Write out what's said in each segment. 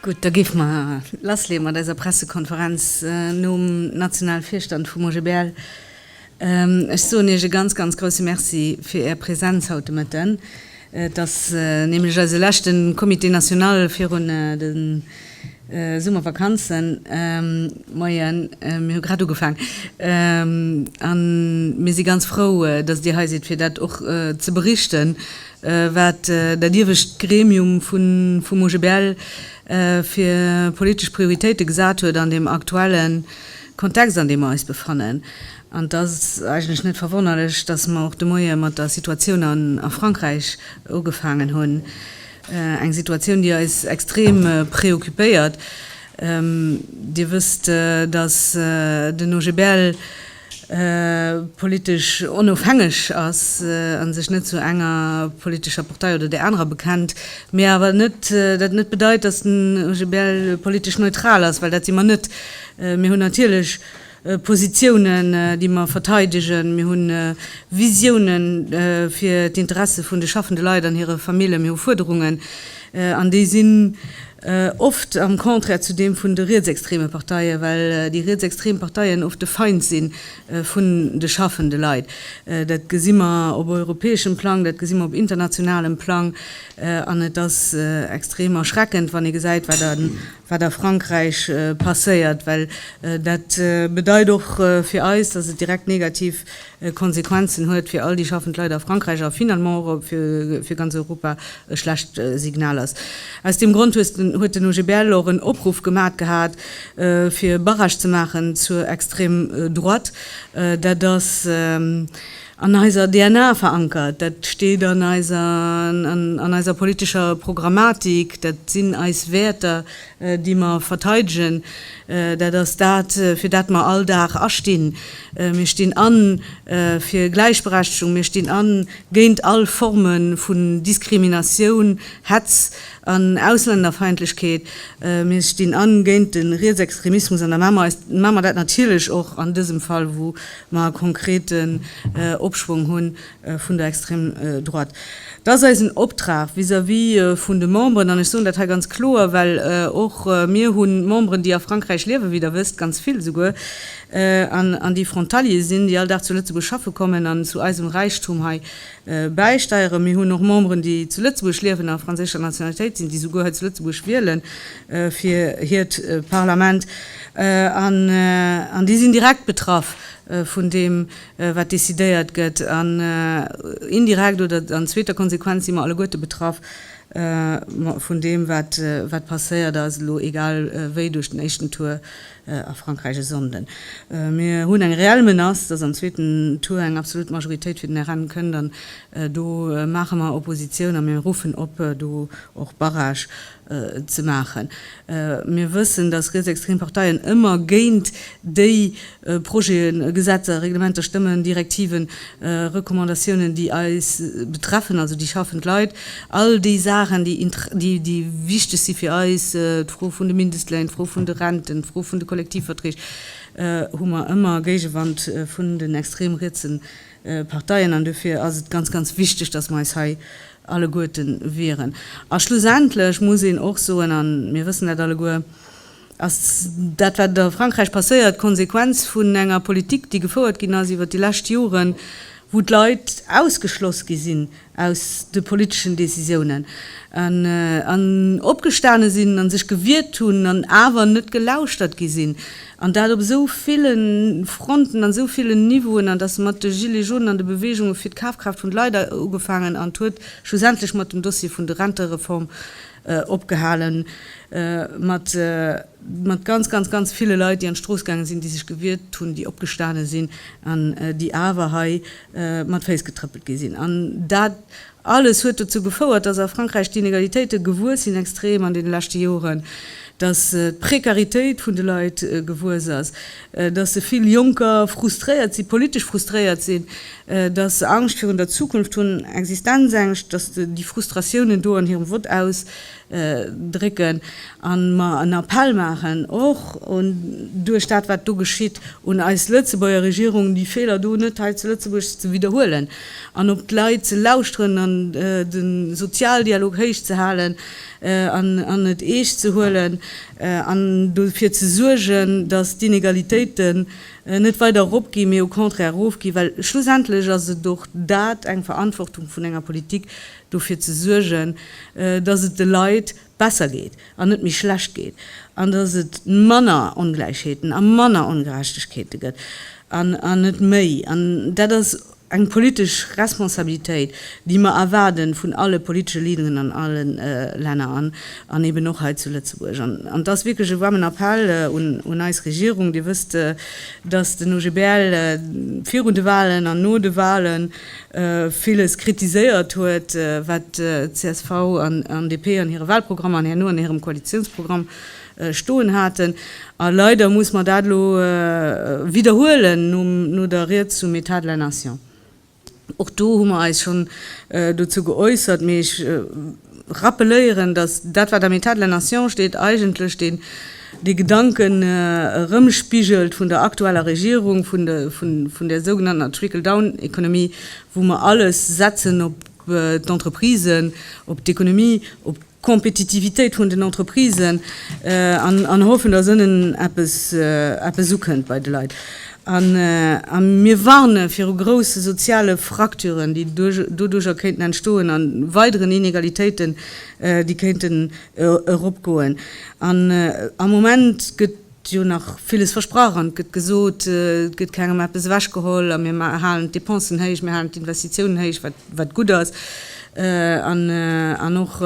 Gutt, da géife mer lassleeë mat eiser Pressekonferenz nom nationale Virstand vum OGBL. Ech soen Iech e ganz, ganz grouse Merci fir Är Präsenz haut de Mëtten. Et ass nämlech eise leschte Comité national virun de. Summervakanzen, Moien, mir hu grad ugefaang a mir si ganz frou, datt Dir hei sidd, fir dat och ze berichten, wat dat iewescht Gremium vum OGBL fir politesch Prioritéite gesat huet an deem aktuelle Kontext, an deem mer eis befannen. An et ass eigentlech net verwonnerlech, datt mer och de Moie mat der Situatioun a Frankräich ugefaangen hunn. Eng Situatioun, déi eis extrem preoccupéiert. Dir wësst, datt den OGBL politesch onofhängeg ass a sech net zu enger politescher Partei oder där anerer bekennt, mee awer dat net bedeit, datt den OGBL politesch neutral ass, well dat si mer net. Mir hunn natierlech. Positiounen, déi mer verteidegen. Mir hu Visiounen fir d'Interesse vun de schaffende Leit an hire Famillje. Mir hu Fuerderungen, an déi sinn oft am Contraire zu deem vun de rietsextreme Parteien, well déi rietsextrem Parteien oft de Feind si vun de schaffende Leit. Dat gesi mer op europäeschem Plang, dat gesi mer op internationalem Plang, an et ass extrem erschreckend, wann ee gesäit, wat an wat a Frankräich passéiert, well dat bedeit och fir eis, dass et direkt negativ Konsequenzen huet fir all déi schaffend Leit a Frankräich a finalement och fir ganz Europa e schlecht Signal ass. Aus deem Grond huet den OGBL och en Opruff gemat gehat, fir Barrage ze maachen zur Extrême droite. Dat ass. an eiser DNA verankert, dat steet an eiser an eiser politescher Programmatik, dat sinn eis Wäerter, déi mer verteidegen, dat ass dat, fir dat mer all Dag astinn. Mir stinn a fir Gläichberechtegung, mir stinn a géint all Forme vun Diskriminatioun, Hetz an Auslännerfeindlechkeet, mir stinn a géint de Rietsextremismus an da maache mer dat natierlech och an dësem Fall, wou mer e konkreten Opschwong hu vun der extrem Droite. Et ass eisen Optrag vis-à-vis vun de Memberen, an ech soen dat hei ganz kloer, well och mir hu Memberen, déi a Frankräich liewen, wéi Der wësst, ganz vill esouguer, an déi Frontalier sinn, déi all Dag zu Lëtzebuerg schaffe kommen an zu eisem Räichtum hei bäisteieren. Mir hunn och Memberen, déi zu Lëtzebuerg liewen a franséischer Nationalitéit sinn, déi esouguer hei zu Lëtzebuerg wielen. fir hiert Parlament, an déi sinn direkt betraff vun deem, wat decidéiert gëtt, an indirekt oder an zweeter Konsequenz si mer alleguerte betraff vun deem, wat passéiert ass, elo egal wéi, duerch den éischten Tour a Frankräich e Sonnden. Mir hunn eng reell Menace, dass am zweeten Tour eng absolut Majoritéit fir den RN kënnt, an do maache mer Oppositioun a mir ruffen op, do och Barrage ze maachen. Mir wëssen, dass rietsextrem Parteien ëmmer géint déi Projeten, Gesetzer, Reglementer stëmmen, Direktiven, Recommandatiounen, déi eis betreffen, also déi schaffend Leit, all déi Saachen, déi wichteg si fir eis, d'Fro vun de Mindestléin, d'Fro vun de Renten, d'Fro vun de Kollektivverträg, hu mer ëmmer Géigewand vun den extrem rietse Parteien. An duerfir ass et ganz, ganz wichteg, dass mer eis hei alleguerten wieren. A schlussendlech muss een och soen, a mir wëssen dat alleguer, ass dat, wat a Frankräich passéiert, d'Konsequenz vun enger Politik, déi gefouert ginn ass iwwert déi lescht Joren, wou d'Leit ausgeschloss gi sinn aus de politeschen Decisiounen an opgestane sinn a sech gewiert hunn an awer net gelauschtert gi sinn. An dat op esou ville Fronten, an esou villen Niveauen, an dass se mat de Gilets jaunen an de Beweegunge fir d'Kafkraaft vun de Leit ugefaangen an huet schlussendlech mat dem Dossier vun de Rentereform opgehale mat mat ganz, ganz, ganz ville Leit, déi an d'Strooss gaange sinn, déi sech gewiert hunn, déi opgestane sinn an déi awer hei mat Féiss getrëppelt gi sinn. An dat Alles huet dozou gefouert, dass a Frankräich d'Inegalitéite gewuess sinn, extrem an deene leschte Joren, dass d'Prekaritéit vun de Leit gewuess ass, dass vill Jonker frustréiert sinn, politesch frustréiert sinn, dass se Angscht virun der Zukunft hunn, Existenzängscht, dass déi Frustratiounen do an hirem Vott aus drécken a mer en Appell maachen, och un, duerch dat wat do geschitt, un eis Lëtzebuerger Regierung, déi Feeler do net hei zu Lëtzebuerg ze widderhuelen an op d'Leit ze lauschteren an de Sozialdialog héich ze halen an et eescht ze huelen an dofir ze suergen, datt d'Inegalitéiten net weider eropginn, mee au contraire erofginn, well schlussendlech ass et och dat, eng Verantwortung vun enger Politik, dofir ze suergen, datt et de Leit besser geet an net méi schlecht geet, an datt et manner Ongläichheeten a manner Ongerechtegkeete gëtt an net méi. An dat ass eng politesch Responsabilitéit, déi mer erwaarde vun alle politesche Leaderen an alle Länner an eben och hei zu Lëtzebuerg. An et ass wierklech e waarmen Appell un eis Regierung. Dir wësst, datt den OGBL virun de Wahlen an no de Wahlen, villes kritiséiert huet, wat csv an DP an hire Wahlprogrammer an herno an hirem Koalitiounsprogramm stoen haten. A leider muss mer dat elo widderhuelen no der Ried zum État de la nation. Och do hu mer eis schonn dozou geäussert, mee ech rappeléieren, datt dat wat am État de la Nation steet, eigentlech deen dee Gedanken erëmspigelt vun der aktueller Regierung, vun de vun där sougenanntener Trickle-down-Economie, wou mer alles setzen op d'Entreprisen, op d'Economie, op d'Compétitivitéit vun den Entreprisen an an hoffen, datt ënnen eppes eppes ukënnt bei de Leit. A mir warne viru grousse soziale Fracturen, déi doduercher kéinten entstoen, a weideren Inegalitéiten, déi kéinten eropgoen. An am Moment gëtt jo nach villes versprach an et gëtt gesot, et gëtt kengem eppes ewechgeholl a mir halen d'Depensen héich, mir halen d'Investitiounen héich, wat gutt ass, an och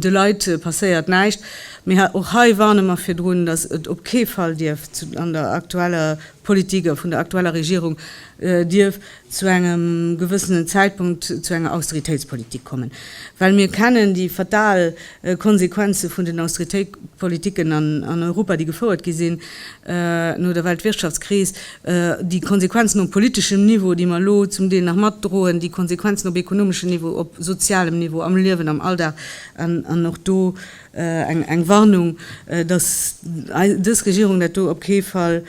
de Leit passéiert näischt. Mee och hei warne mer virdrun, dass et op kee Fall dierf an der aktueller Politik a vun der aktueller Regierung dierf zu engem gewëssenen Zäitpunkt zu enger Austeritéitspolitik kommen, well mir kennen déi fatal Konsequenze vun den Austeritéitspolitiken an Europa, déi gefouert gi sinn no der Weltwirtschaftskris, déi Konsequenzen op politeschem Niveau, déi mer elo zum Deel nach matdroen, déi Konsequenzen op ekonomeschem Niveau, op sozialem Niveau, am Liewen am Alldag an och do, Eng Warnung, datt dës Regierung dat do op kee Fall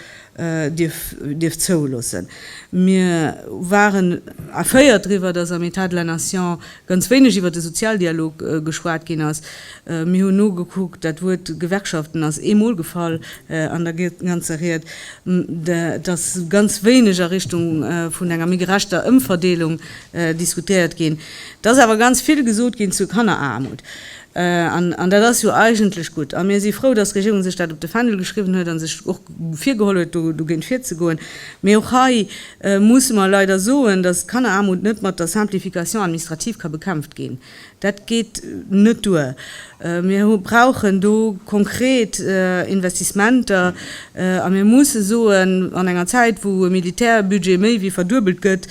dierf zouloossen. Mir waren erféiert driwwer, datt am État de la Nation ganz wéineg iwwer de Sozialdialog geschwat ginn ass. Mir hunn nogekuckt, dat Wuert Gewerkschaften ass ee Mol gefall an der ganzer Ried. Et ass ganz wéineg a Richtung vun enger méi gerechter Ëmverdeelung diskutéiert ginn. Et ass awer ganz vill gesot ginn zu Kanneraarmut. An dat ass jo eigentlech gutt. A mir si frou, dass d'Regierung sech dat op de Fändel geschriwwen huet a sech och virgeholl huet, do dogéint virzegoen. Mee och hei musse mer leider soen, dass d'Kanneraarmut net mat der Simplification administrative ka bekämpft ginn. Dat geet net duer. Mir brauchen do konkret Investissementer, A mir musse soen, an enger Zäit wou e Militärbudget méi wéi verduebelt gëtt,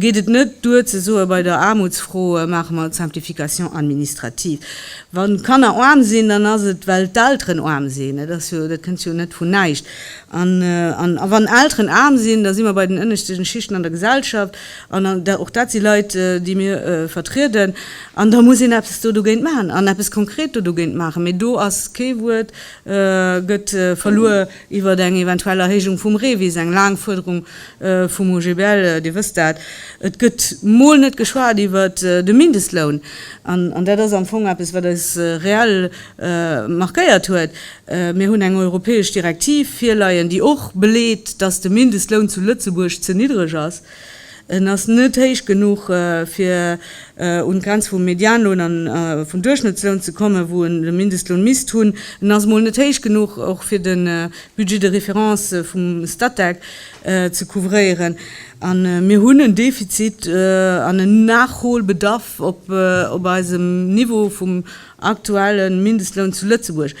geet et net duer ze soen, bei der Aarmutsfro maache mer d'Simplification administrative. Wann d'Kanner aarm sinn, dann ass et well d'Elteren aarm sinn. Et ass jo, dat kënnt jo net vun näischt. An wann Elteren aarm sinn, da si mer bei den ënneschte Schichten an der Gesellschaft, an och dat si Leit déi mir vertrieden, an da muss een eppes do dogéint maachen an eppes konkret do dogéint maachen. Mee do ass kee Wuert. gëtt verluer iwwert eng eventuell Erhéijung vum REVIS, eng laang Fuerderung vum OGBL, Dir wësst dat. Et gëtt mol net geschwat iwwert de Mindestloun, an dat ass am Fong eppes, wat eis reell markéiert huet. Mir hunn eng europäesch Direktiv virleien, déi och beleet, datt de Mindestloun zu Lëtzebuerg ze niddreg ass. En ass net héich genuch, fir un d'Grenz vum Medianloun a vum Duerchschnëttsloun ze kommen, wou en de Mindestloun misst hunn. En ass emol net héich genuch och, fir de Budget de référence vum Statec ze couvréieren. A mir hunn en Defizit an en Nachholbedarf op eisem Niveau vum aktuelle Mindestloun zu Lëtzebuerg.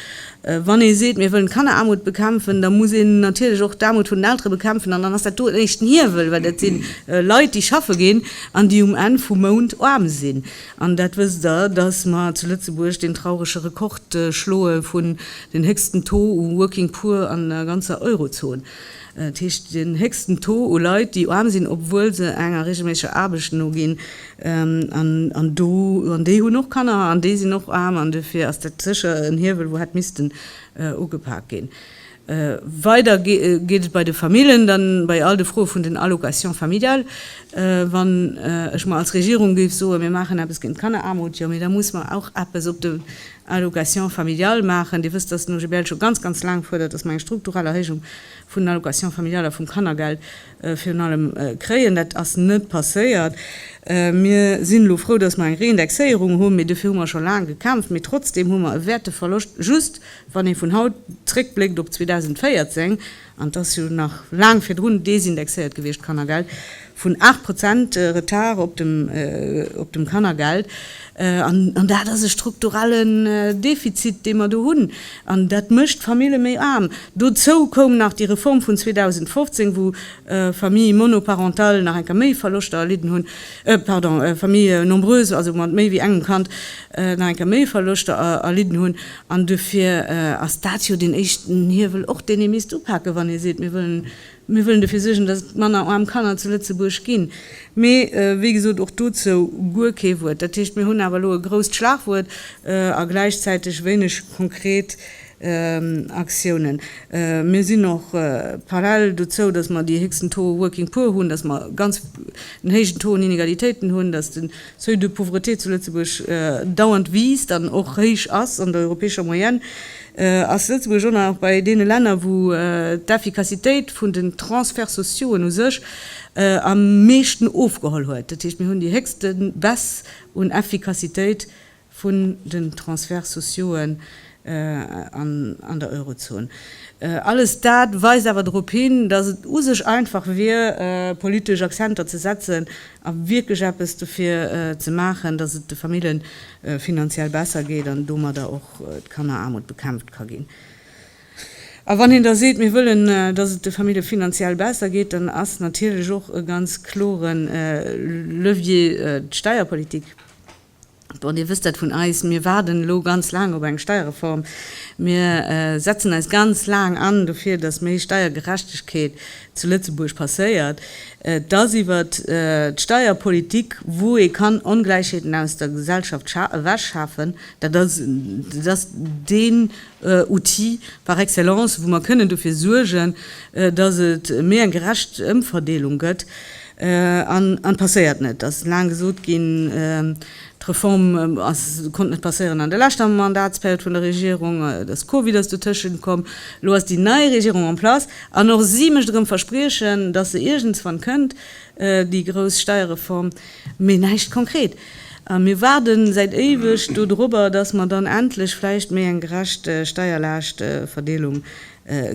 Wann ee seet, mir wëllen d'Kanneraarmut bekämpfen, da muss een natierlech och d'Aarmut vun den Eltere bekämpfen. An dann ass dat do en éischten Hiewel, well dat si Leit, déi schaffe ginn an déi um Enn vum Mount aarm sinn. An dat wësst Der, dass mer zu Lëtzebuerg deen traurege Rekord schloe vun den héchsten Taux u Working Poor an der ganzer Eurozon. Dat heescht, den héchsten Taux u Leit, déi aarm sinn, obwuel se enger reegelméisseger Aarbecht noginn. An do, an déi hunn och Kanner an déi sinn och aarm, an dofir ass dat sécher en Hiewel, wou hätt missten ugepak ginn. Weider geet et bei de Familljen dann bei all de Froe vun den Allocations familiales. Wann ech mer als Regierung géif soen, mir maachen eppes géint d'Kanneraarmut, jo, mee da muss mer och eppes op den Allocations familiales maachen. Dir wësst, dass den OGBL scho ganz, ganz laang fuerdert, dass mer eng strukturell Erhéijung vun den Allocations familiales a vum Kannergeld Virun allem kréien, dat ass net passéiert. Mir sinn elo frou, datt mer eng Reindexéierung hunn, mee dofir hu mer scho laang gekämpft. Mee trotzdeem hu mer e Wäerteverloscht, just wann ee vun haut zréckbléckt op 2014, an et ass jo nach laang virdrun desindexéiert gewiescht, d'Kannergeld, vun 8 Prozent Retard op dem Kannergeld. An dat ass e strukturellen Defizit, dee mer do hunn, an dat mécht d'Famille méi aarm. Dozou koum nach déi Reform vun 2015, wou Famille monoparentale nach eng Kéier méi Verloschter erlidden hunn, pardon, Famille nombreuse, also mat méi wéi engem Kand, nach eng Kéier méi Verloschter erlidden hunn. An dofir ass dat jo deen éischten Hiewel och, deen ee misst upake wann ee seet, mir wëllen Mir wëllen dofir suergen, dass et manner aarm Kanner zu Lëtzebuerg ginn. Mee, wéi gesot, och dozou guer kee Wuert. Dat heescht, mir hunn awer elo e grousst Schlagwuert a gläichzäiteg wéineg konkret Aktiounen. Mir sinn och parallel dozou, dass mer déi héchsten Taux working poor hunn, dass mer ganz den héijen Taux un Inegalitéiten hunn, dass de Seuil de pauvreté zu Lëtzebuerg dauernd wiisst an och héich ass an der europäescher Moyenne, ass Lëtzebuerg och nach bei deene Länner, wou d'Efficacitéit vun den Transferts sociauxen u sech am meeschten ofgeholl huet. Dat heescht, mir hunn déi héchste Baisse un Efficacitéit vun den Transferts sociauxen an der Eurozon. Alles dat weist awer drop hin, datt et u sech einfach wier, politesch Akzenter ze setzen a wierklech eppes dofir ze maachen, datt et de Famille finanziell besser geet an domadder och d'Kanneraarmut bekämpft ka ginn. A wann een da seet, mir wëllen, datt et de Famille finanziell besser geet, dann ass natierlech och e ganz klore Levier d'Steierpolitik. Bon, Dir wësst dat vun eis, mir waarden elo ganz laang op eng Steierreform. Mir setzen eis ganz laang an dofir, dass méi Steiergerechtegkeet zu Lëtzebuerg passéiert. Et ass iwwer d'Steierpolitik, wou ee kann Ongläichheeten aus der Gesellschaft ewechschafen. Dat ass deen Outil par excellence, wou mer kënnen dofir suergen, dass et méi eng gerecht Ëmverdeelung gëtt. An et passéiert net. Et ass laang gesot ginn, d'Reform konnt net passéieren an der leschter Mandatsperiod vun der Regierung, de Covid ass dotëschent komm, elo ass déi nei Regierung en place an och si mécht erëm Verspriechen, dass se iergendswann kënnt, déi grouss Steierreform, mee näischt konkret. A mir waarden säit éiweg do dorobber, dass mer dann endlech vläicht méi eng gerecht Steierlaaschtverdeelung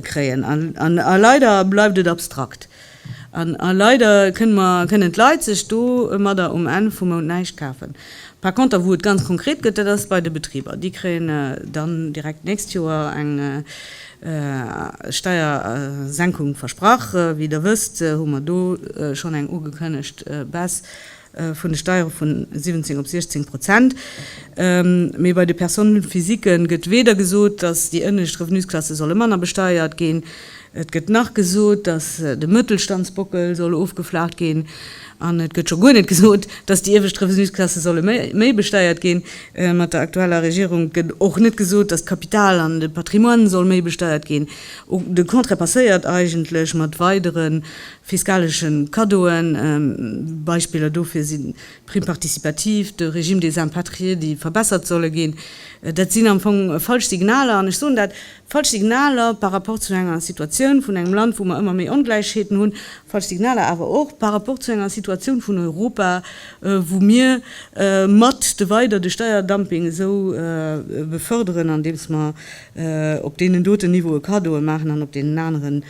kréien. A leider bleift et abstrakt. An leider kënnen mer, kënnen d'Leit sech domadder um Enn vum Mount näischt kafen. Par konter, wou et ganz konkret gëtt, dat ass bei de Betriber. Déi kréien dann direkt d'nächst Joer eng Steiersenkung versprach. Wéi Der wësst, hu mer do schonn eng ugekënnegt Baisse vun de Steiere vu 17 op 16 Prozent, mee bei de Personnes physiques'en gëtt weder gesot, dass déi ënnescht Revenusklasse solle manner besteiert ginn, et gëtt nach gesot, dass de Mëttelstandsbockel soll ofgeflaacht ginn, an et gëtt scho guer net gesot, dass déi iewescht Revenusklasse solle méi besteiert ginn. Mat der aktueller Regierung gëtt och net gesot, dass d'Kapital an de Patrimoine soll méi besteiert ginn. De Contraire passéiert eigentlech mat weidere Fiskaleschen Kaddoen, Beispiller dofir sinn d'Prime participative, de Régime des impatriés, déi verbessert solle ginn. Dat sinn am Fong falsch Signaler, an ech soen dat, falsch Signaler par rapport zu enger Situatioun vun engem Land, wou mer ëmmer méi Ongläichheeten hunn, falsch Signaler awer och par rapport zu enger Situatioun vun Europa, wou mir mat de weider de Steierdumping esou beförderen, andeems mer op deenen doten Niveaue Kaddoe maachen an op deenen aneren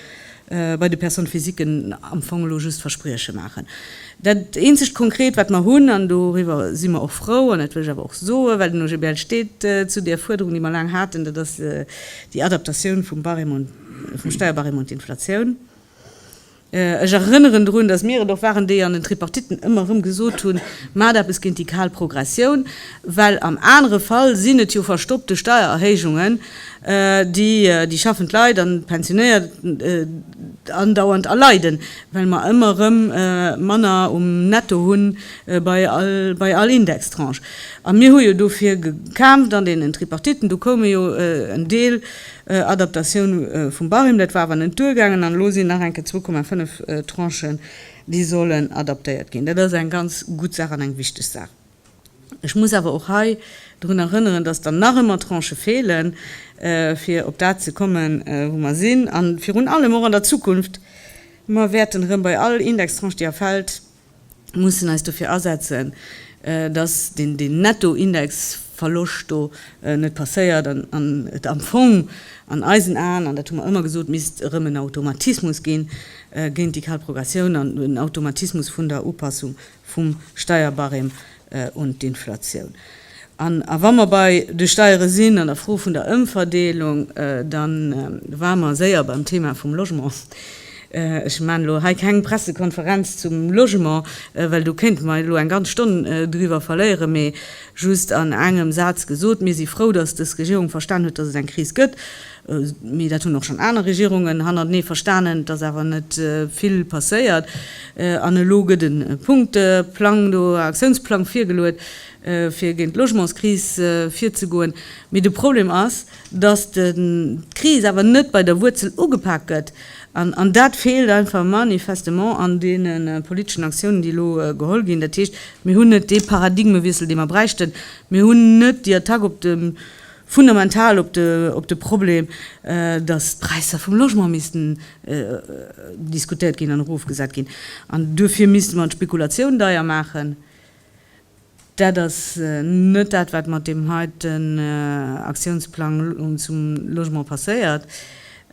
bei de Personnes physiquen am Fong elo just Versprieche maachen. Dat eenzegt Konkret, wat mer hunn, an doriwwer si mer och frou, an dat wëll ech awer och soen, well den OGBL steet zu där Fuerderung, déi mer laang haten, dat ass déi Adaptatioun vum Barème, vum Steierbarème un d'Inflatioun. Ech erënneren drun, dass mir et och waren, déi an den Tripartitten ëmmer erëm gesot hunn, Maacht eppes géint déi kal Progressioun, well am anere Fall sinn et jo verstoppte Steiererhéijungen, déi déi schaffend Leit an d'Pensionéiert andauernd erleiden, well mer ëmmer erëm manner um Netto hunn bei all bei all Indextranche. A mir hu jo dofir gekämpft an deenen Tripartiten, do koume jo en Deel Adaptatioun vum Barème, dat war awer net duergaangen an elo sinn nach enke zwou Komma fënnef Tranchen, déi sollen adaptéiert ginn. Dat ass eng ganz gutt Saach an eng wichteg Saach. Ech muss awer och hei drun erënneren, dass der nach ëmmer Tranchë feelen, fir op dat ze kommen, wou mer sinn, a virun allem och an der Zukunft. Mer wäerten erëm bei all Indextranche, déi erfält, mussen eis dofir asetzen, dass deen Nettoindexverloscht do net passéiert an et am Fong an eisen Aen, an dat hu mer ëmmer gesot, misst erëm en Automatismus gi géint déi kal Progressioun an en Automatismus vun der Upassung vum Steierbarème un d'Inflatioun. An a wa mer bei de Steiere sinn, an der Fro vun der Ëmverdeelung, da ware mer séier beim Thema vum Logement. Ech maan elo hei keng Pressekonferenz zum Logement, well do kéinte mer elo eng ganz Stonn driwwer verléieren, mee just an engem Saz gesot, Mir si frou, datt dës Regierung verstanen huet, datt et eng Kris gëtt. Mee dat hunn och schonn aner Regierungen hannertenee verstanen, dass awer net vill passéiert. An elo gëtt e Punkteplang do, e Aktiounsplang virgeluet, fir géint d'Logementskris virzegoen. Mee de Problem ass, dass d'Kris awer net bei der Wuerzel ugepak gëtt. An dat feelt einfach manifestement an deene politeschen Aktiounen, déi elo geholl ginn. Dat heescht, mir hunn net dee Paradigmewiessel, dee mer bräichten. Mir hunn net déi Attack op de fundamental op de op de Problem, datt d'Präisser vum Logement missten diskutéiert ginn an erofgesat ginn, an duerfir misste mer d'Spekulatioun deier maachen. Dat ass net dat, wat mat deem heiten Aktiounsplang zum Logement passéiert.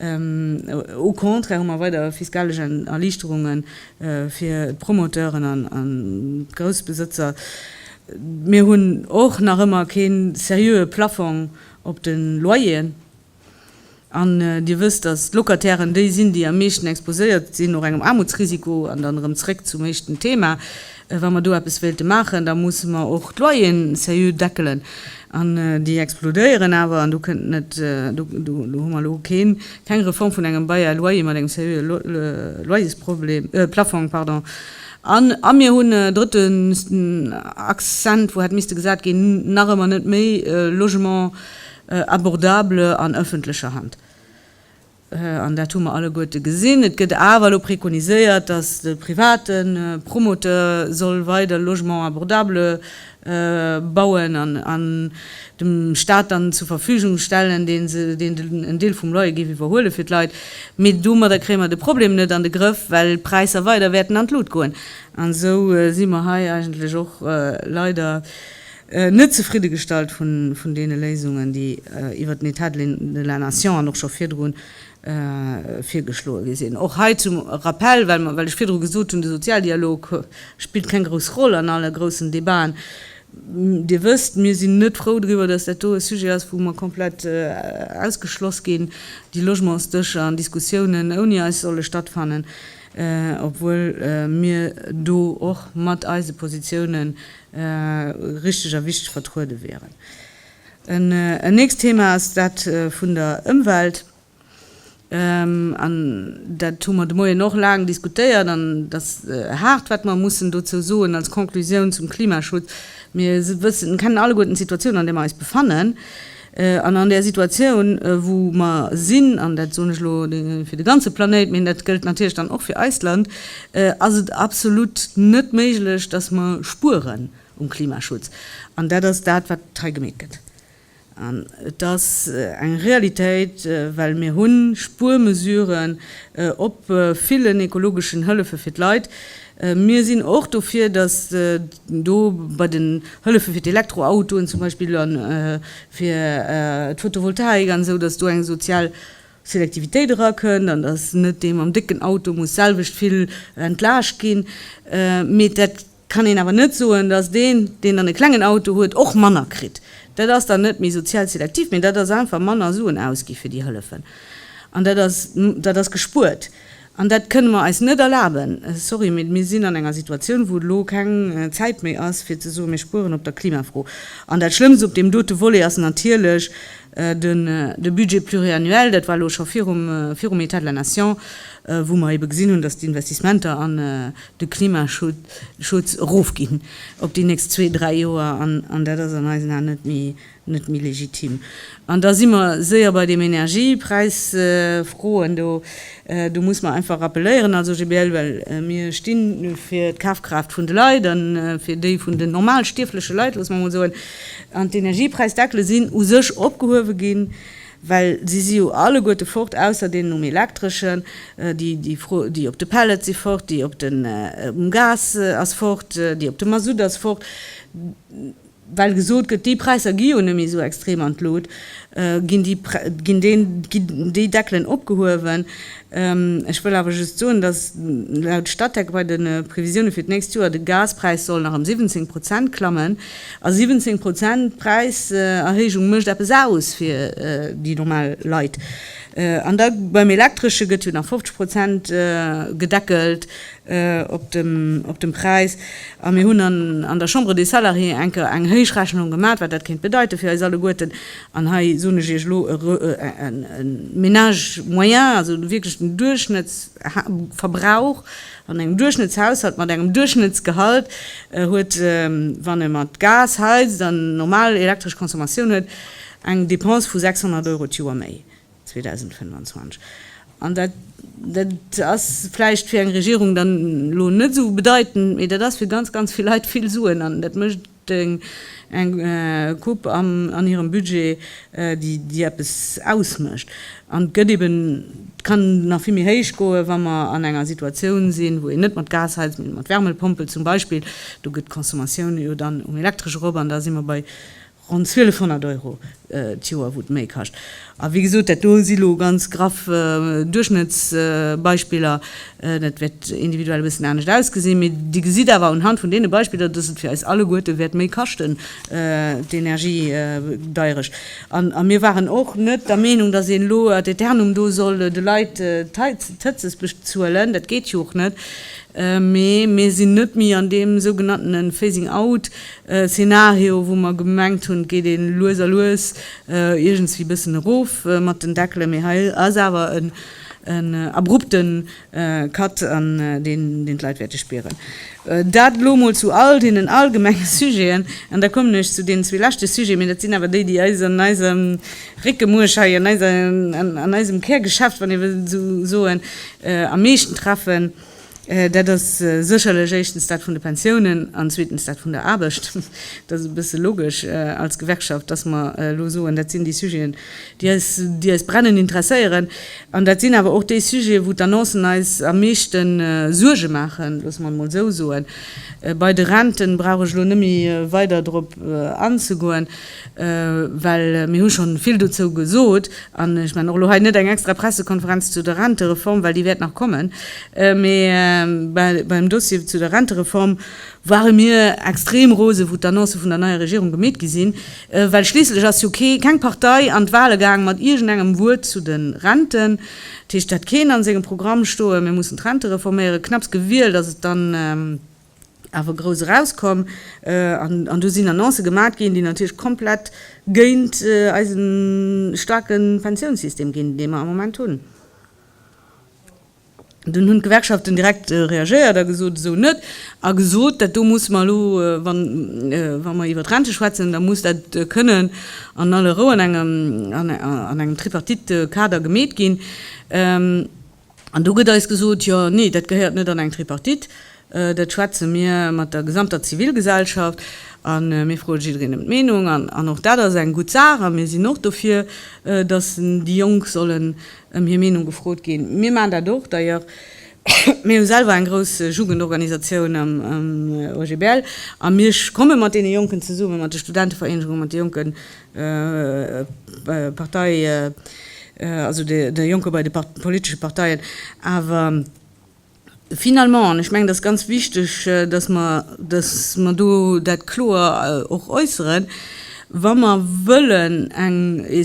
Au contraire hu mer weider fiskalesch Erliichterunge fir d'Promoteuren an d'Groussbesëtzer. Mir hunn och nach ëmmer kee seriöe Plaffong op de Loyeren. An Dir wësst, dass d'Locatairen déi sinn, déi am meeschten exposéiert sinn, och engem Aarmutsrisiko. An dann erëm zréck zum éischten Thema. Wa mer do eppes wéilte maachen, da musse mer och d'Loyeren seriö deckelen. An déi explodéieren awer. An do kënnt net, do hu mer elo keen, keng Reform vun engem Bail à loyer mat engem seriöe Loyersproblem, Plaffong, pardon. An, a mir hunn e drëtten Accent, wou hätt misste gesat ginn, nach ëmmer net méi Logement abordable an öffentlecher Hand. An dat hu mer alleguerte gesinn. Et gëtt awer elo prekoniséiert, datt de private Promoteur soll weider Logement abordable bauen an dem Stat dann zur Verfügung stellen, deen en Deel vum Loyer géif iwwerhuele fir d'Leit. Mee domadder kréie mer de Problem net an de Grëff, well d'Präisser weider wäerten an d'Lut goen. An esou si mer hei eigentlech och leider. net zefridde gestallt vun deene Léisungen, déi iwwert den État de la nation an och scho virdru virgeschloe gi sinn. Och hei zum Rappell, well ech virdru gesot hunn, de Sozialdialog spillt keng grouss Roll an alle groussen Debaten. Dir wësst, mir sinn net frou driwwer, dass dat do e Sujet ass, wou mer komplett ausgeschloss ginn, déi Logementsdëscher an diskussiounen ouni eis solle stattfannen, obwuel mir do och mat eise Positiounen richteg a wichteg vertruede wieren. En nächst Thema ass dat vun der Ëmwelt. An dat hu mer de Moien och laang diskutéiert an et ass haart, wat mer mussen dozou soen als Conclusioun zum Klimaschutz. Mir wëssen, kennen alleguerten d'Situatioun, an där mer eis befannen. An an där Situatioun, wou mer sinn, an dat soen ech elo fir de ganze Planéit, mee dat gëllt natierlech dann och fir eist Land, ass et absolut net méiglech, dass mer spueren um Klimaschutz. An dat ass dat, wat hei gemeet gëtt. An et ass eng Realitéit, well mir hu Spuermesuren op villen ekologeschen Hëllefe fir d'Leit. Mir sinn och dofir, dass. Do bei den Hëllefe fir d'Elektroautoen zum Beispill a fir d'Photovoltaik an esou, datt do eng sozial Selektivitéit erakënnt an datt net dee mam décken Auto muss d'selwecht vill entlaascht ginn. Mee dat kann een awer net soen, datt deen, deen dann e klengen Auto huet, och manner kritt. Dat ass dann net méi sozial selektiv, mee dat ass einfach manner Suen ausgi fir déi Hëllefen an dat ass, dat ass gespuert. An dat kënne mer eis net erlaben. Sorry, mee mir sinn an enger Situatioun, wou elo keng Zäit méi ass, fir ze soen, mir spueren op der Klimafro. An dat Schlëmmst op deem dote Volet ass natierlech de Budget pluriannuel. Dat war elo scho virum État de la nation, wou mer ebe gesinn hunn, dass d'Investissementer an de Klimaschutz erofginn op déi nächst zwee, dräi Joer. An dat ass an eisen Aen net méi net méi legitim. An da si mer séier bei deem Energiepräisfroen do. Do muss mer einfach rappeléieren als OGBL, well mir sti fir d'Kafkraaft vun de Leit a fir déi vun den normal stierfleche Leit, loosse mer emol soen. An d'Energiepräisdeckele sinn u sech opgehuewe ginn, well se si jo alleguerte fort, ausser deenen um Elektreschen. Déi op de Pellet si fort, déi op den um Gas ass fort, déi op de Masutt ass fort. well gesot gëtt, déi Präisser gi jo net méi esou extrem an d'Lut, ginn déi Deckelen opgehuewen. Ech wëll awer just soen, datt laut Statec bei de Previsioune fir d'nächst Joer de Gaspräis soll nach ëm 17 Prozent klammen. A 17 Prozent Präiserhéijung mécht eppes aus fir déi normal Leit. An da beim Elektresche gëtt jo nach 50 Prozent gedeckelt. op dem op dem Präis a mir hunn an an der Chambre des Salariés enker eng Héichrechnung gemat, wat dat kéint bedeiten fir eis alleguerten. An hei soen ech Iech elo, e re e Ménage moyen, also wierklech den Duerchschnëtts ha Verbrauch an engem Duerchschnëttshaushalt mat engem Duerchschnëttsgehalt huet, wann e mat Gas heizt an normal elektresch Consommatioun huet, eng Dépense vu 600 Euro d'Joer méi. 2025. An dat, dat ass vläicht fir eng Regierung dann elo net esou bedeitend, mee dat ass fir ganz, ganz vill Leit vill Suen. An dat mécht eng, eng Coupe an hirem Budget, déi, déi eppes ausmécht. An gëtt eben, kann nach vill méi héich goen, wa mer an enger Situatioun sinn, wou een net mat Gas heizt, mee mat Wärmepompel zum Beispill. Do geet d'Consommatioun jo dann um Elektresch erop an da si mer bei, Ronn 1200 Euro d'Joer, wou et méi kascht. A wéi gesot, dat do si lo ganz graff Duerchschnëttsbeispiller. Dat wäert individuell e bëssen anescht ausgesinn. Mee Dir gesitt awer unhand vun deene Beispiller, dass et fir eis alleguerte wäert méi kaschten, d'Energie gedeierecht. A mir waren och net der Meenung, dass een elo ad aeternum do soll de Leit d'Heizes bezuelen. Dat geet jo och net. Mee mir sinn net méi an deem sougenanntene Phasing out, E Szenario, wou mer gemengt hunn, geet ee lues a lues iergendswéi bëssen erof mat den Deckelen, mee hei ass awer en abrupte Cut, an deen d'Leit wäerte spieren. Dat elo mol zu all deenen allgemenge Sujeten. An da kommen ech zu deenen zwee leschte Sujeten, mee dat sinn awer déi, déi eis an eisem Réckemuerch hei, an eisem Kärgeschäft, wann ee wëll esou soen, am meeschten treffen. Dat ass sécherlech éischtens dat vun de Pensiounen an zweetens dat vun der Aarbecht. Et ass e bësse logesch als Gewerkschaft, dass mer elo soen, dat sinn déi Sujeten, déi eis, déi eis brennend interesséieren. An dat sinn awer och déi Sujeten, wou d'Annoncen eis am meeschte Suerge maachen, loosse mer et emol esou soen. Bei de Renten brauch ech elo net méi weider drop anzegoen. Well mir hu schonn vill dozou gesot, an ech maachen och elo hei net eng extra Pressekonferenz zu der Rentereform, well déi wäert nach kommen, mee beim Dossier zu der Rentereform ware mir extrem rose wou d'Annoncë vun der neier Regierung gemeet gi sinn, well schliisslech ass jo kee, keng Partei an d'Wahle gaang mat iergendengem Wuert zu de Renten. Dat heescht, et hat keen a sengem Programm stoen, mir mussen d'Rente reforméieren. Knapps gewielt ass et dann. awer grouss erauskomm an do sinn Annoncë gemat ginn, déi natierlech komplett géint eise staarke Pensiounssystem ginn, dee mer am Moment hunn. Dunn hunn d'Gewerkschaften direkt reagéiert a gesot, esou net, a gesot, dat do musse mer elo, wa mer iwwer d'Rente schwätzen, da muss dat kënnen an aller Rou an engem Tripartite-Kader gemeet ginn. An do gëtt eis gesot, jo, nee, dat gehéiert net an eng Tripartite, dat schwätze mir mat der gesamter Zivilgesellschaft a mir froe jiddereen ëm d'Meenung. An och dat ass eng gutt Saach a mir sinn och dofir, datt déi Jonk sollen ëm hir Meenung gefrot ginn. Mir maachen dat och d'ailleurs. Mir hu selwer eng grouss Jugendorganisatioun am OGBL a mir komme mat deene Jonken zesummen, mat de Studentevereenegungen, mat de jonke Partei, also de Jonker bei de politesche Parteien. Awer finalement, an ech mengen, dat ass ganz wichteg, datt mer, datt mer do dat kloer och äusseren, Wa mer wëllen eng,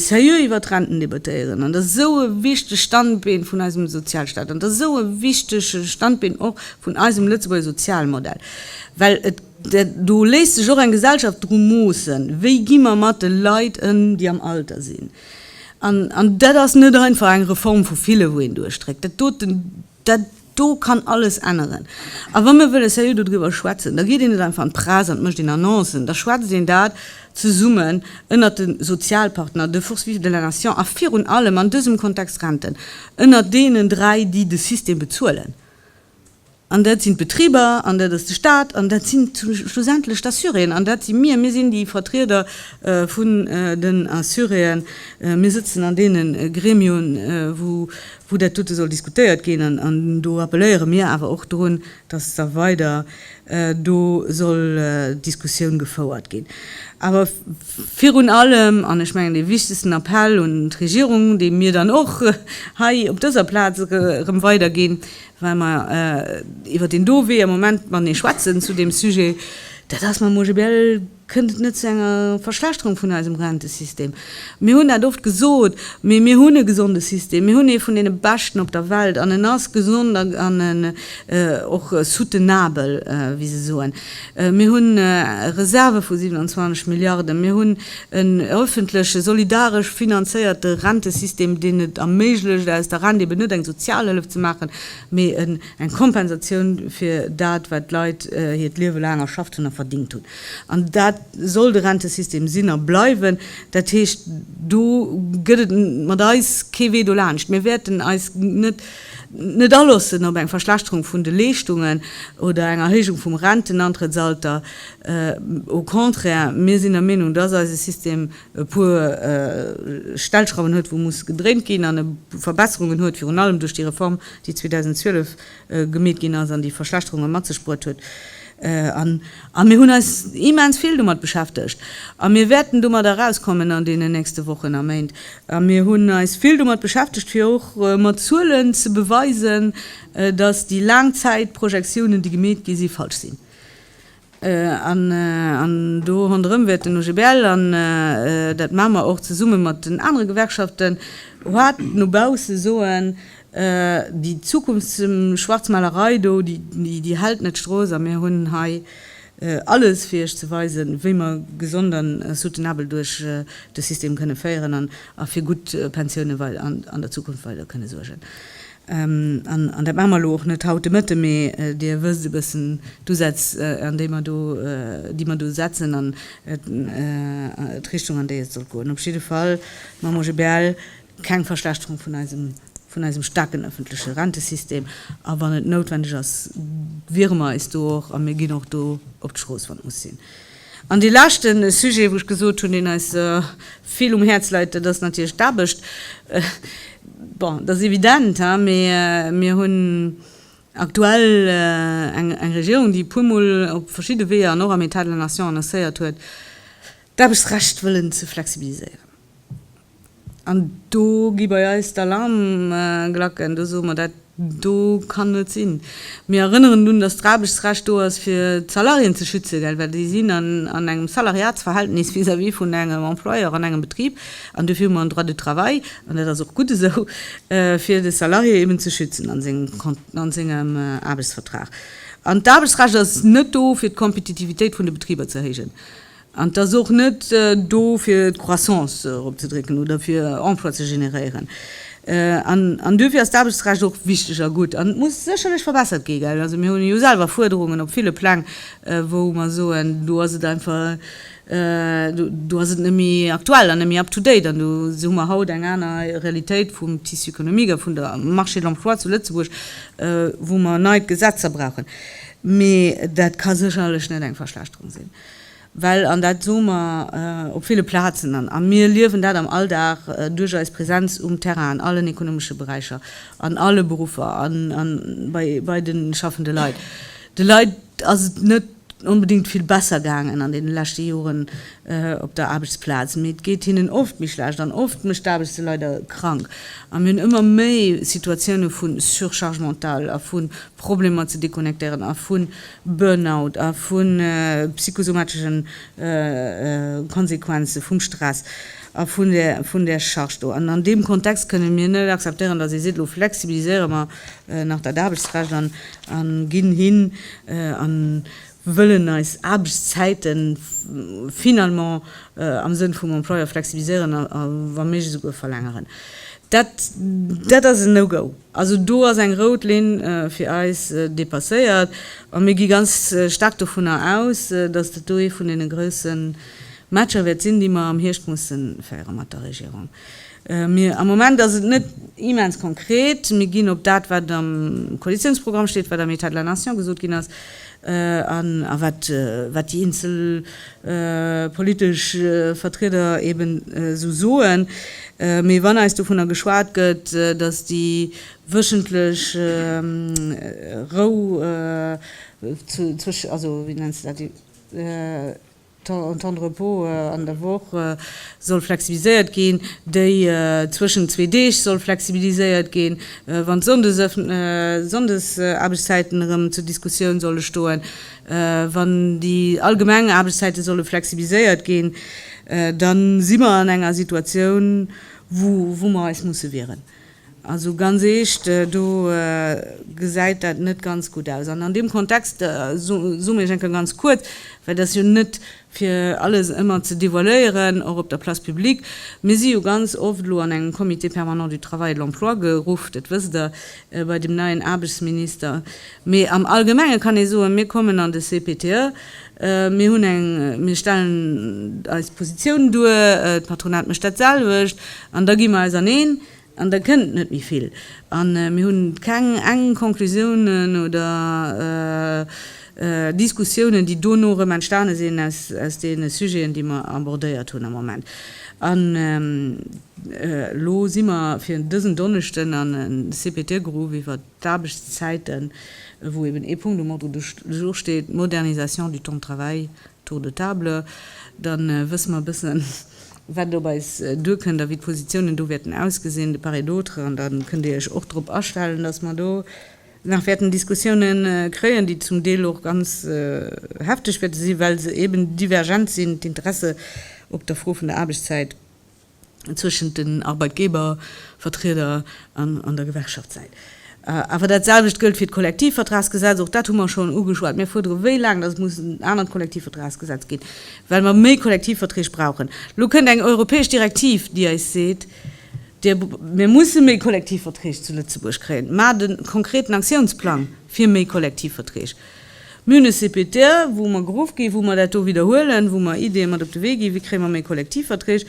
seriö iwwert d'Renten debattéieren, an dat ass esou e wichtegt Standbeen vun eisem Sozialstaat, an dat ass esou e wichtege Standbeen och vun eisem Lëtzebuerger Sozialmodell, well et, Do léisst sech och eng Gesellschaft dru moossen, wéi gi mer mat de Leit ëm, déi am Alter sinn. An dat ass net einfach eng Reform vu ville wou een duerchdréckt. Dat doten, dat do kann alles änneren. A wa mir wëlle seriö dodriwwer schwätzen, da geet een net einfach an d'Press an mécht een Annoncen, da schwätzt een dat zesummen ënnert de Sozialpartner, de Forces vives de la nation a virun allem an dësem Kontext Renten, ënnert deenen dräi, déi de System bezuelen. An dat sinn d'Betriber, an dat ass de Stat, an dat sinn schlussendlech d'Assuréen, an dat si mir. Mir sinn déi Vertrieder vun den Assuréen. Mir sëtzen an deene Gremioen, wou dat dote soll diskutéiert ginn. An do appelléiere mir awer och drun, dass da weider do soll d'Diskussioun gefouert ginn. Awer virun allem, an ech mengen dee wichtegsten Appell un d'Regierung, dee mir dann och hei op dëser Plaz erëm weiderginn, Well mer iwwer deen do Wee am Moment matenee schwätzen zu deem Sujet, dat ass mam OGBL, kënnt et net zu enger Verschlechterung vun eisem Rentesystem. Mir hunn dat oft gesot, mee mir hunn e gesonde System, mir hunn ee vun deene beschten op der Welt an en ass gesond an och soutenabel, wéi se soen. Mir hunn Reserve vu 27 Milliarden. Mir hunn en öffentleche, solidaresch finanzéierte Rentesystem, deen et erméiglecht, aus der Rent eben net eng Sozialhëllef ze maachen, mee eng Kompensatioun fir dat, wat d'Leit hiert Liewe laang erschafft hunn a verdingt hunn. An dat soll de Rentesystem sinn a bleiwen. Dat heescht, do gëtt et mat eis kee Wee dolaanscht. Mir wäerten eis net Net aloossen op eng Verschlechterung vun de Leeschtungen oder eng Erhéijung vum Rentenantrëttsalter, au contraire, mir sinn der Meenung, dass eise System e puer Stellschrauwen huet, wou musse gedréint ginn, an e puer Verbesserungen huet, virun allem duerch déi Reform, déi 2012 gemeet ginn ass an déi Verschlechterunge mat sech bruet huet. A mir hunn eis immens vill domat beschäftegt a mir wäerten domat erauskommen an deenen nächste Wochen a Méint. A mir hunn eis vill domat beschäftegt, fir och mat Zuelen ze beweisen, dass déi Laangzäitprojektiounen, déi gemeet gi si, falsch sinn. An do ronderëm wäert den OGBL, an dat maache mer och zesumme mat den anere Gewerkschaften, haart no bausse soen, Déi Zukunftsschwarzmalerei do, déi hält net d'Strooss a mir hunn hei alles fir Iech ze weisen, wéi mer gesond a soutenabel duerch de System kënne féieren a fir gutt Pensioune an der Zukunft weider kënne suergen. An dat maache mer elo och net haut de Mëtte, mee Dir wësst e bëssen d'Usätz, déi mer do setzen an d'Richtung, an déi et soll goen. Op jidde Fall mam OGBL Keng Verschlechterung vun eisem, vun eisem staarken öffentleche Rentesystem. A wann et noutwendeg ass, wiere mer eis do och, a mir ginn och do op d'Strooss, wann et muss sinn. An dee leschte Sujet, wou ech gesot hunn, deen eis vill um Häerz leit, dat ass natierlech d'Aarbecht. Bon, dat ass evident, haa, mee mir hunn aktuell eng Regierung, déi e puermol op verschidde Weeër an och am État de la Nation annoncéiert huet, d'Aarbechtsrecht wëllen ze flexibiliséieren. An do gi bei eis d'Alarmglacken. Do soe mer, Dat do kann net sinn. Mir erënneren drun, datt d'Aarbechtsrecht do ass, fir d'Salariéen ze schützen, well déi sinn an engem Salariatsverhältnis vis-à-vis vun engem Employeur an engem Betrib. An duerfir hu mer en Droit du travail, an dat ass och gutt esou, fir de Salarié eben ze schützen a sengem Aarbechtsvertrag. An d'Aarbechtsrecht ass net do, fir d'Kompetitivitéit vun de Betriber ze erhéijen. An et ass och net do fir d'Croissance eropzedrécken oder fir Emploi ze generéieren. An duerfir ass d'Aarbechtsrecht och wichteg a gutt. An et muss sécherlech verbessert gi gell. Also mir hu jo selwer Fuerderungen op ville Pläng, wou mer soen, do ass et einfach, do ass et net méi aktuell an net méi up to date. An do hu mer haut eng aner Realitéit vum Tissu économique a vun der Marché de l'emploi zu Lëtzebuerg, wou mer nei Gesetzer brauchen. Mee dat ka sécherlech net eng Verschlechterung sinn. Well, an dat soe mer op ville Plazen an, a mir liewen dat am Alldag duerch eis Präsenz um Terrain an allen ekonomesche Beräicher, an alle Beruffer an bei de schaffende Leit, de Leit ass et net onbedéngt vill besser gaangen an deene leschte Joren op der Aarbechtsplaz, mee et geet hinnen oft méi schlecht an oft mécht d'Aarbecht se leider krank. A mir hunn ëmmer méi Situatioune vu Surcharge mentale a vu Problemer ze deconnectéieren a vu Burnout a vu psychosomatischen Konsequenzen vum Stress a vun där Charge do. An an deem Kontext kënnen mir net akzeptéieren, dass ee seet, elo flexibiliséiere mer nach dat Aarbechtsrecht an ginn hin an wëllen eis Aarbechtszäite finalement am Sënn vum Employeur flexibiliséieren a wa méiglech esouguer verlängeren. Dat dat ass en No-Go. Also do ass eng rout Linn fir eis dépasséiert a mir gi ganz staark dovunner aus, dass dat do ee vun deene grousse Matcher wäert sinn, déi mer am Hierscht musse féiere mat der Regierung. Mir, am Moment ass et net immens konkret. Mir ginn op dat, wat am Koalitiounsprogramm steet, wat am État de la Nation gesot ginn ass an a wat, wat déi eenzel politesch Vertrieder eben esou soen. Mee wann eis dovunner geschwat gëtt, datt déi wéchentlech Rou, also wéi nenns de dat? Den Temps de repos an der Woch soll flexibiliséiert ginn. Déi zwëschent zwee Deeg soll flexibiliséiert ginn. Wann d'Sonndesaarbechtszäiten erëm zur Diskussioun solle stoen, wann déi allgemeng Aarbechtszäite solle flexibiliséiert ginn, da si mer an enger Situatioun, wou mer eis musse wieren. Also ganz eescht, do gesäit dat net ganz gutt aus. An an deem Kontext soen ech enke ganz kuerz, well et ass jo net fir alles ëmmer ze devoiléieren, och op der Place publique, Mir si jo ganz oft elo an engem Comité permanent du travail et de l'emploi geruff, dat wësst Der, bei dem neien Aarbechtsminister. Mee am Allgemenge kann ee soen, mir kommen an de CPTE, Mir hunn eng, mir stellen eis Positioun duer, d'Patronat mécht dat selwecht an da gi mer eis aneen an da kënnt net méi vill. A mir hu keng eng Conclusiounen oder Diskussiounen, déi dono erëm entstane sinn aus deene Sujeten, déi mer abordéiert hunn am Moment. An elo si mer fir dësen Donneschden an CPT-Grupp iwwert. D'Aarbechtszäiten, wou eben ee Punkt um Ordre du jour steet, Modernisation du temps de travail, Tour de table, da wësse mer e bëssen, wat et op eis duerkënnt a wéi d'Positiounen do wäerten ausgesinn de part et d'autre. An da kënnt Dir Iech och drop astellen, dass mer do nach wäerten Diskussiounen kréien, déi zum Deel och ganz hefteg wäerte sinn, well se eben divergent sinn, d'Interesse op der Fro vun der Aarbechtszäit. zwëschent den Arbeitgebervertrieder an der Gewerkschaftssäit. Awer dat selwecht gëllt fir d'Kollektivvertragsgesetz, och dat hu mer schonn ugeschwat. Mir fuerdere wéi laang datt et muss en anert Kollektivvertragsgesetz ginn, well mer méi Kollektivverträg brauchen. Elo kënnt eng europäesch Direktiv, déi eis seet, mir musse méi Kollektivverträg zu Lëtzebuerg kréien. Maacht e konkreten Aktiounsplang fir méi Kollektivverträg. Municipétaire, wou mer geruff ginn, wou mer dat do widderhuelen, wou mer Ideeë mat op de Wee ginn, wéi kréie mer méi Kollektivverträg.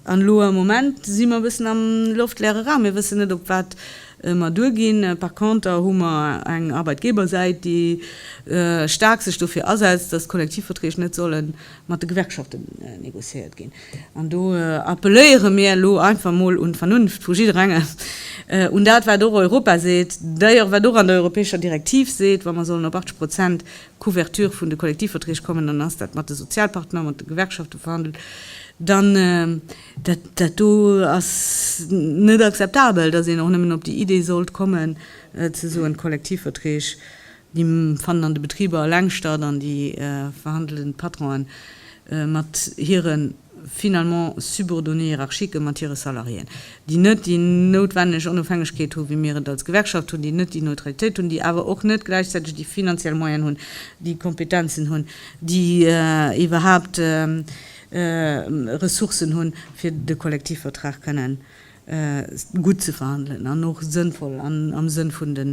An elo am Moment si mer e bëssen am loftleere Raum. Mir wëssen net, op wat mer duerginn. Par conter hu mer eng Arbeitgebersäit, déi staark sech dofir asetzt, dass d'Kollektivverträg net solle mat de Gewerkschaften negociéiert ginn. An do appelléiere mir elo einfach mol un d'Vernunft vu jidderengem, un dat wat och Europa seet, d'ailleurs wat och an der europäescher Direktiv seet, wa mer sollen op 80 Prozent Couverture vun de Kollektivverträg kommen, dann ass dat mat de Sozialpartner, mat de Gewerkschafte verhandelt, dann dat dat do ass net akzeptabel, datt een och nëmmen op déi Idee sollt kommen ze soen, d'Kollektivverträg Déi fannen an de Betriber eleng statt an déi verhandelen d'Patronen mat hire finalement subordonné hiérarchique, mat hire Salariéen, déi net déi noutwenneg Onofhängegkeet hu wéi mir et als Gewerkschaft hunn, déi net déi Neutralitéit hunn, déi awer och net gläichzäiteg déi finanziell Moyen hunn, déi Kompetenzen hunn, déi iwwerhaupt Ressourcen hunn, fir de Kollektivvertrag kënnen gutt ze verhandelen an och sënnvoll an am Sënn vun de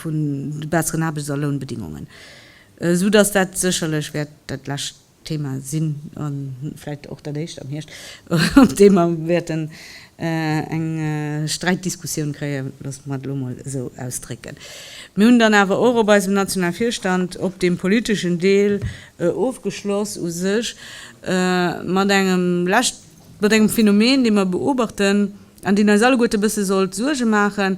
vun de besseren Aarbechts a Lounbedingungen, esou datt dat sécherlech wäert dat lescht Thema sinn, a vläicht och dat éischt am Hierscht, op deem mer wäerten eng Sträitdiskussioun kréien, loosse mer et elo emol esou ausdrécken. Mir hunn dann awer och op eisem nationale Virstand, op deem politeschen Deel, ofgeschloss u sech mat engem leschte Mat engem Phänomen, dee mer beobachten an deen eis alleguerten e bësse sollt Suerge maachen,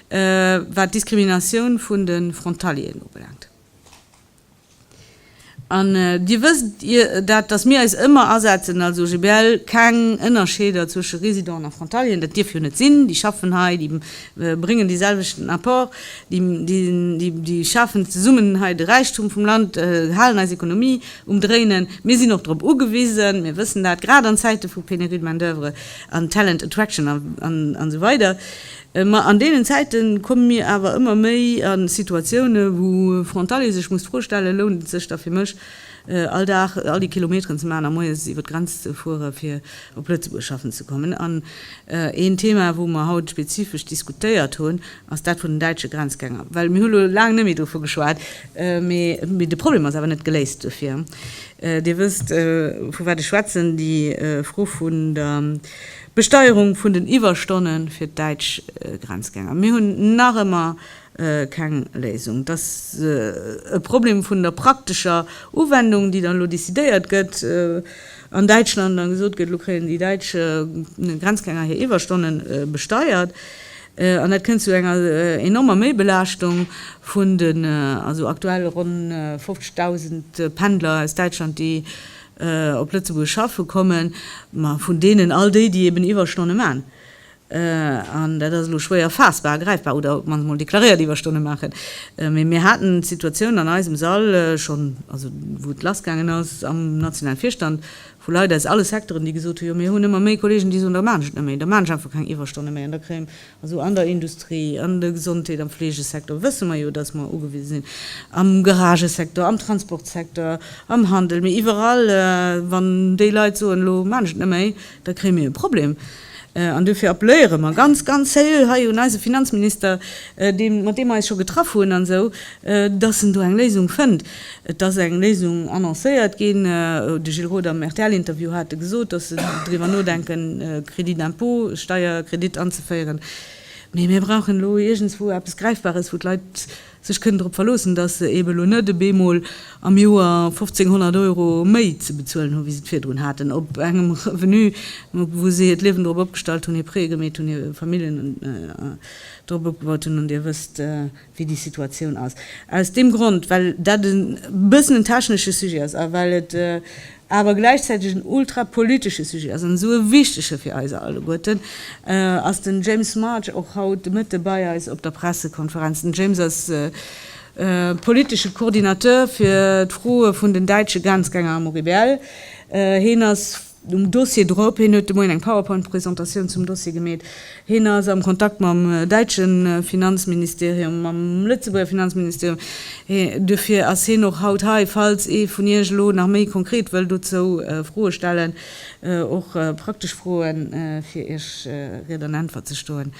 wat d'Diskriminatioun vun de Frontalieren ubelaangt. An Dir wësst dat, dass mir eis ëmmer asetzen als OGBL, keng Ënnerscheeder zwësche Residenten a Frontalieren, dat dierf jo net sinn, déi schaffen hei, déi bréngen dee selwechten Apport, déi schafen zesummen hei de Räichtum vum Land, halen eis Ekonomie Umdréinen. Mir sinn och drop ugewisen, mir wëssen dat, grad an Zäite vu Pénurie de main d'oeuvre an Talent attraction an esou weider, ma an deenen Zäite komme mir awer ëmmer méi a Situatioune wou e Frontalier sech muss d'Fro stellen, lount et sech da fir mech all Dag all déi Kilometeren ze maachen a moies iwwer d'Grenz ze fuere fir op Lëtzebuerg schaffen ze kommen? An een Thema wou mer haut spezifesch diskutéiert hunn Ass dat vun den däitsche Grenzgänger? Well mir hu lo laang net méi dovu geschwat, mee de Problem ass awer net geléist dofir. Dir wësst, vu wat ech schwätzen, déi Fro vun der Besteierung vun den Iwwerstonne fir d'däitsch Grenzgänger. Mir hunn nach ëmmer keng Léisung. Et ass e Problem vun der praktescher Uwendung, déi dann elo decidéiert gëtt an Däitschland an gesot gëtt, elo kréien déi däitsch Grenzgänger hir Iwwerstonne besteiert. An dat kënnt zu enger enormer Méibelaaschtung vun den also aktuell ronn 50.000 Pendler aus Däitschland, déi op Lëtzebuerg schaffe kommen. Ma vun deenen all déi, déi eben Iwwerstonne maachen, an dat ass elo schwéier faassbar a gräifbar, oder op d'mannst emol deklaréiert Iwwerstonne maachen. Mee mir haten d'Situatioun an eisem Sall schonn, also wou et lassgaangen ass am nationale Virstand, vu Leit aus alle Secteuren, déi gesot hu, jo mir hunn ëmmer méi Kolleegen, déi soen, da maachen ech net méi, da maachen ech einfach keng Iwwerstonne méi. An da kréien, also an der Industrie, an der Gesondheet, am Fleegesecteur wësse mer jo, datt mer ugewise sinn, am Garagesecteur, am Transportsecteur, am Handel, mee iwwerall, wann déi Leit soen, elo maachen ech et net méi, da kréie mir e Problem. An duerfir appelléiere mer ganz, ganz seriö hei un eise Finanzminister, dee, mat deem mer eis scho getraff hunn an esou, dass en do eng Léisung fënnt. Et ass eng Léisung annoncéiert ginn. De Gilles Roth am RTL-Interview hat e gesot, dass se driwwer nodenken, e Crédit d'impôt, e Steierkredit anzeféieren. Mee mir brauchen elo iergendswou eppes Gräifbares, wou d'Leit, sech kënnen drop verloossen, dass se eben elo net op eemol am Joer 1.500 Euro méi ze bezuelen hunn, wéi se et virdrun haten, op engem Revenu, wou si hiert Liewen drop opgestallt hunn, hir Prêtë gemeet hunn, hir Familljen drop opgebaut hunn. An Dir wësst, wéi déi Situatioun ass. Aus deem Grond, well dat e bëssen en technesche Sujet ass a well et awer gläichzäiteg en ultrapolitesche Sujet ass, an esou e wichtege fir eis alleguerten, ass den James March och haut de Mëtte bei eis op der Pressekonferenz. Den James ass politesche Coordinateur fir d'Froe vun den däitsche Grenzgänger am OGBL. Heen ass um Dossier drop, heen huet de Moien eng Powerpoint-Presentatioun zum Dossier gemeet. Hien ass am Kontakt mam däitsche Finanzministerium, mam Lëtzebuerger Finanzministerium. Duerfir ass hien och haut hei, falls ee vun Iech elo nach méi konkret wëll dozou Froe stellen, och praktesch Froen, fir Iech Ried an Äntwert ze stoen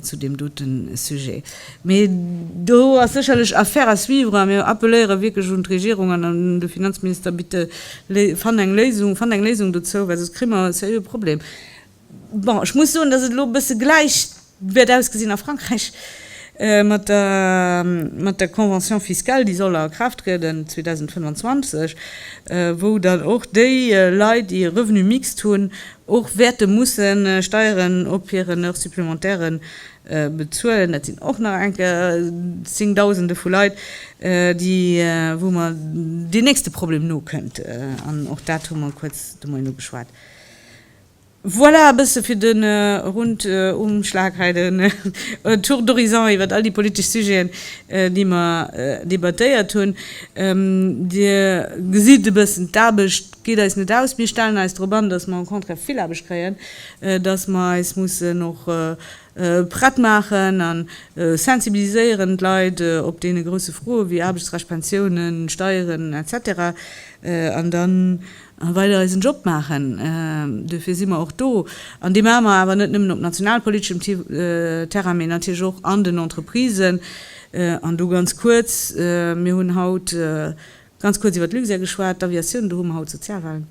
zu deem dote Sujet. Mee do ass sécherlech Affaire à suivre a mir appeléiere wierklech un d'Regierung an un de Finanzminister, Bitte fannt eng Léisung, fannt eng Léisung dozou, well soss kréie mer e sérieux Problem. Bon, ech muss soen, dass et elo e bësse gläich wäert ausgesinn a Frankräich mat der, mat der Convention fiscale, déi soll a Kraaft trieden 2025, wou dann och déi Leit, déi e Revenu mixte hunn, och wäerte musse Steieren op hiren Heure supplémentaire bezuelen. Dat sinn och nach enke Zéngdausende vu Leit, déi, wou mer deen nächste Problem nokënnt, an och dat hu mer kuerz domain ugeschwat. Voilà, e bësse fir de Rundumschlag hei, de Tour d'horizon iwwert all déi politesch Sujeten, déi mer debattéiert hunn. Dir gesitt e bëssen, d'Aarbecht geet eis net aus. Mir stellen eis drop an, dass mer au contraire vill Aarbecht kréien, dass mer eis mussen och prett maachen a sensibiliséieren, d'Leit op deene grousse Froe wéi Aarbechtsrecht, Pensiounen, Steieren, etc. An dann. A well der eisen Job maachen, duerfir si mer och do. An dee maache mer awer net nëmmen op nationalpoliteschem Terrain, mee natierlech och an den Entreprisen. An do ganz kuerz, Mir hunn haut ganz kuerz iwwert Luxair geschwat, d'Aviatioun. Do hu mer haut Sozialwahlen,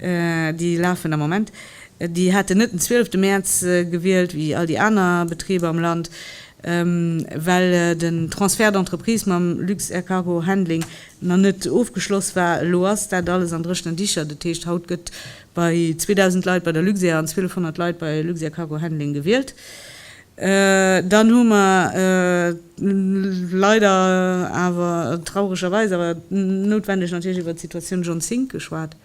déi lafen am Moment. Déi haten net den 12 Mäerz gewielt, wéi all déi aner Betriber am Land, well den Transfert d'entreprise mam Luxair Cargo Handling nach net ofgeschloss war. Elo ass dat alles an dréchenen Dicher. Dat heescht, haut gëtt bei 2.000 Leit bei der Luxair an 1.200 Leit bei Luxair Cargo Handling gewielt. Dann hu mer leider awer, trauregerweis, awer noutwendeg natierlech iwwert d'Situatioun John Zink geschwat.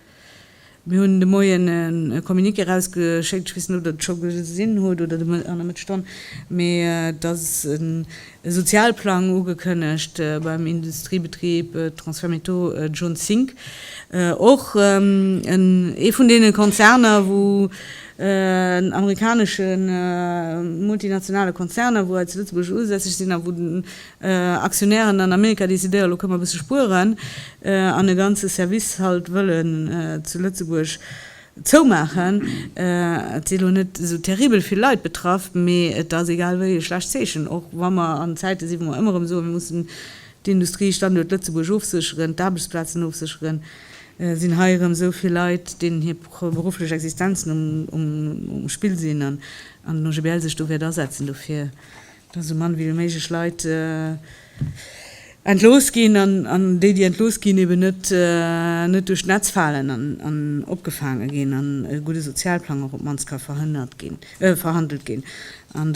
Mir hunn de Moien e Communiqué erausgeschéckt, ech weess net, ob Der et scho gesinn hutt oder an der Mëttesstonn, mee et ass e Sozialplang ugekënnegt beim Industriebetrib Transfermétaux Zone 5. Och ee vun deene Konzerner, wou en amerikanesche multinationale Konzerner, wou hei zu Lëtzebuerg usässeg sinn a wou Aktionären an Amerika decidéieren elo, Kënn mer e bësse spueren an e ganze Service halt wëllen zu Lëtzebuerg zoumaachen? Et si elo net esou terribel vill Leit betraff, mee et ass egal wéi e schlecht Zeechen, och wa mer an Zäite si wou mer ëmmer erëm soen, mir mussen d'Industriestanduert Lëtzebuerg ofsécheren, d'Aarbechtsplazen ofsécheren, sinn hei erëm esou vill Leit, deenen hir berufflech Existenzen um Spill sinn an den OGBL sech do wäert asetzen dofir. dass esou mann wéi méiglech Leit entlooss ginn an déi, déi entlooss ginn, eben net duerch d'Netz falen an opgefaange ginn an e gudde Sozialplang och op d'mannst ka verhandelt ginn. An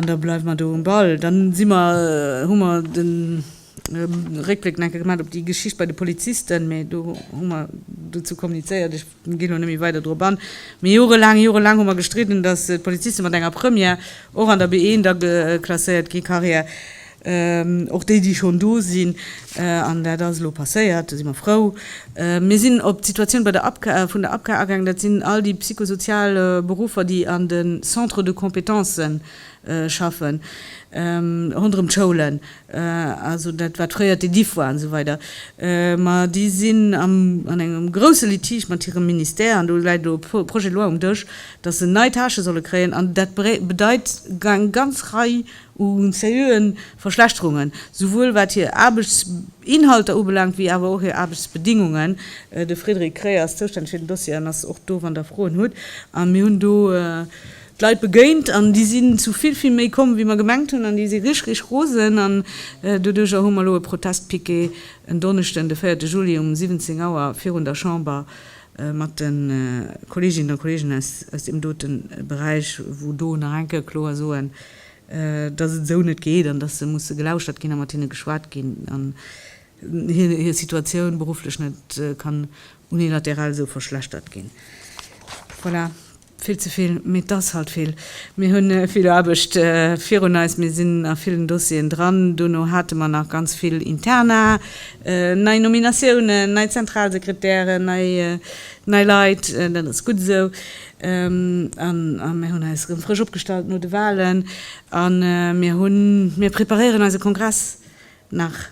da bleiwe mer do um Ball. Dann si mer, hu mer de Réckbléck nach eng Kéier gemaach op déi Geschicht bei de Polizisten, mä do hu mer dozou kommunizéiert, Ech ginn elo net méi weider drop an. Mee jorelaang, jorelaang hu mer gestridden, datt d'Poliziste mat enger Première och an der B1 da klasséiert gi, Carrière, och déi, déi schonn do sinn. An dat ass elo passéiert, do si mer frou. Mir sinn op d'Situatioun bei der APCA, vun der APCA agaangen. Dat sinn all déi psychosozial Beruffer, déi an de Centres de compétences schaffen, ronderëm d'Schoulen. also dat wat fréier d'Ediff war an esou weider, ma déi sinn an engem grouse Litige mat hirem Ministère an do läit elo e Projet de loi um Dësch, datt se nei Tâchë solle kréien an dat bedeit eng ganz Rei u seriöe Verschlechterungen, souwuel wat hir Aarbechtsinhalter ubelaangt wéi awer och hir Aarbechtsbedingungen. De Frédéric Kré ass zoustänneg fir den Dossier an ass och do, wann Der Froen hutt. A mir hunn do. d'Leit begéint an déi sinn zu vill, vill méi komm wéi mer gemengt hunn an déi si rich, rich rosen an doduercher hu mer elo e Protestpiquet en Donneschden, de véierte Juli um 17 Auer virun der Chamber mat de Kolleeginnen a Kolleegen aus deem dote Beräich, wou do nach enke kloer soen, dass et esou net geet an dass se musse gelauschert ginn a mat hinne geschwat ginn an hir Situatioun berufflech net kann unilateral esou verschlechtert ginn. Voilà. Vill ze vill, mee et ass halt vill. Mir hunn vill Aarbecht virun eis. Mir sinn a villen Dossieren dran. Dono hate mer nach ganz vill Interna, nei Nominatiounen, nei Zentralsekretären, nei Leit. Dat ass gutt esou. A mir hunn eis erëm frësch opgestallt no de Wahlen. A mir hunn, mir preparéieren eise Kongress nach,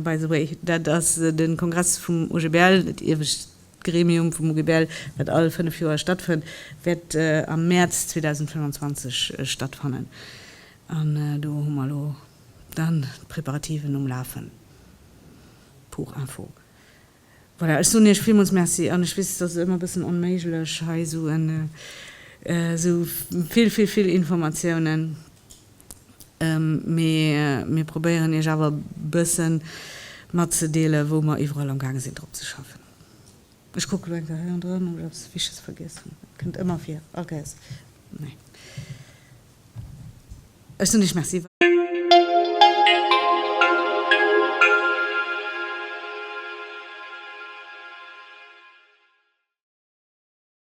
by the way. Dat ass de Kongress vum OGBL, dat iewescht. D'Gremium vum OGBL, wat all fënnef Joer stattfënnt, wäert am Mäerz 2025 stattfannen. An do hu mer elo dann d'Preparativen um Lafen. Pour info. Voilà, ech soen Iech villmools Merci. An ech weess, et ass ëmmer e bëssen onméiglech, hei esou vill, vill, vill Informatiounen Mee mir probéieren iech awer bëssen matzedeelen, wou mer iwwerall am gaange sinn drop ze schaffen. Ech kucke lo eng Kéier heiandrun, ob ech eppes Wichtiges vergiess hunn. Et kënnt ëmmer vir, all Kéiers. Nee. Ech soen iech Merci.